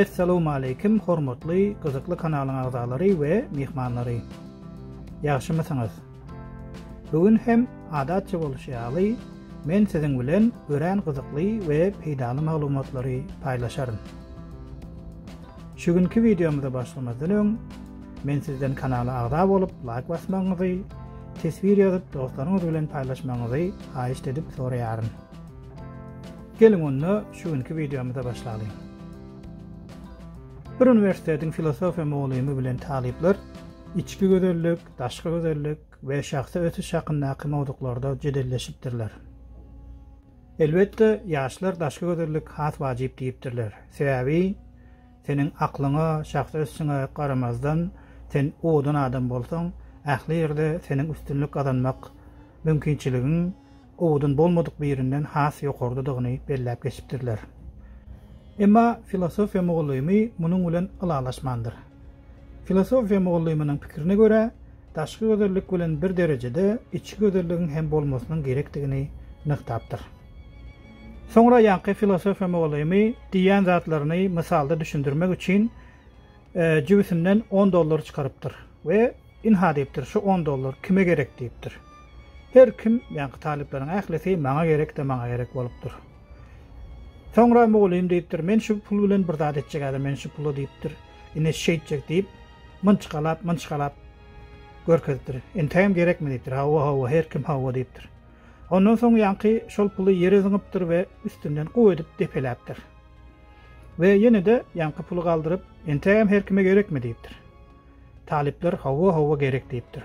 Essalowmaleýkim hormatly gyzykly kanalyň agzalary we myhmanlary. Ýagşymysyňyz? Bu gün hem adatça bolşy ýaly men siziň bilen örän gyzykly we peýdaly maglumatlary paýlaşaryn. Şu günki wideomyza başlamazdan öň men sizden kanala agza bolup laýk basmagyňyzy, teswir ýazyp dostlaryňyz bilen paýlaşmagyňyzy haýyşt edip soraýaryn. Geliň onda şu günki wideomyza başlalyň. Bir uniwersitetiň filosofiýa mugallymy bilen talyplar içki gözellik, daşky gözellik we şahsy ösüş hakyndaky mowzuklarda jedelleşipdirler. Elbetde, ýaşlar daşky gözellik has wajyp diýipdirler. Sebäbi seniň aklyňa, şahsy ösüşiňe garamazdan, sen owadan adam bolsaň, ähli ýerde seniň üstünlik gazanmak mümkinçiligiň owadan bolmadyk birinden has ýokardadygyny belläp geçipdirler. Emma filosofiýa mugallymy munuň bilen ylalaşmandyr. Filosofiýa mugallymynyň pikirine görä, daşky gözellik bilen bir derejede içki gözelligiň hem bolmasynyň gerekdigini nygtapdyr. Soňra ýaňky filosofiýa mugallymy diýýän zatlaryny mysalda düşündirmek üçin jübüsinden on dollar çykarypdyr we Ynha diýipdir, şu on dollar kime gerek diýipdir. Her kim, ýaňky talyplaryň ählisi maňa gerek-de maňa gerek bolupdyr. Soňra mugallym diýipdir, men şu pul bilen bir zat etjek häzir men şu pula diýipdir. Ine şeýtjek diýip, mynçgalap, mynçgalap görkezipdir. Entägem gerekmi diýipdir. Hawa, hawa, her kim hawa diýipdir. Ondan soň ýaňky şol puly ýere zyňypdyr we üstünden guw edip depeläpdir. We ýene-de ýaňky puly galdyryp, entägem her kime gerekmi diýipdir. Talyplar hawa hawa gerek diýipdir.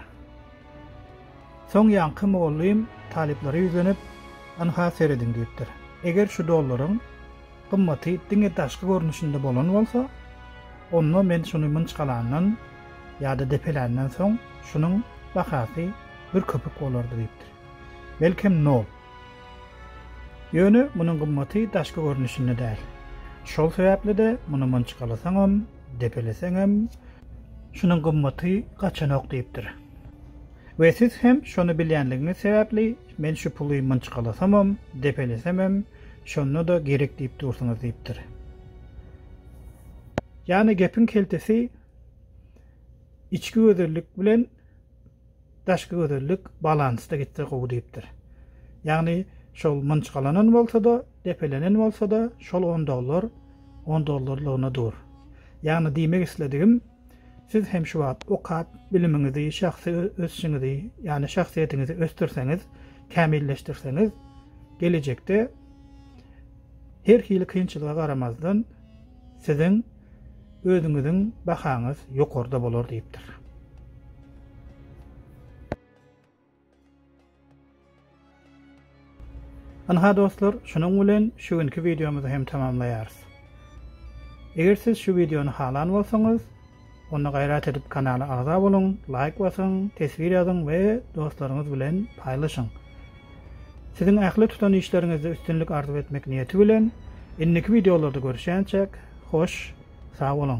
Soň ýaňky mugallym talyplara ýüzlenip, Ynha serediň diýipdir. Eger şu dollaryň gymmaty diňe daşky görnüşinde bolan bolsa, onda men şuny mynçgalandan ýa-da depeländen soň şunuň bahasy bir köpük bolardy diýipdir. Belkem nol. Ýöne munuň gymmaty daşky görnüşinde däl. Şol sebäpli-de muny mynçgalasaňam, depeleseňem, şunuň gymmaty gaçanok diýipdir. We siz hem şony bilýänligiňiz sebäpli, men şu puly mynçgalasamam, depelesemem, şonda-da gerek diýip dursuňyz diýipdir. Ýagny gepiň keltesi içki gözellik bilen Daşky gözellik balansda gitse gowy diýipdir. Ýagny şol mynçgalanan bolsa-da, depelenen bolsa-da şol on dollar on dollarlygyna dur. Ýagny diýmek isledigim, siz hem şu wagt okap, bilimiňizi, şahsy ösüşiňizi, ýagny şahsyýetiňizi ösdürseňiz, kämilleşdirseňiz, gelejekde her hili kynçylyga garamazdan siziň özüňiziň bahaňyz ýokarda bolar diýipdir. Ynha dostlar, şunuň bilen şu günki wideomyzy hem tamamlaýarys. Eger siz şu wideony halan bolsaňyz, onda gaýrat edip kanala agza boluň, laýk basyň, teswir ýazyň we dostlaryňyz bilen paýlaşyň. Siziň ähli tutan işleriňizde üstünlik arzuw etmek niýeti bilen, indiki wideolarda görüşýänçäk, hoş, sag boluň!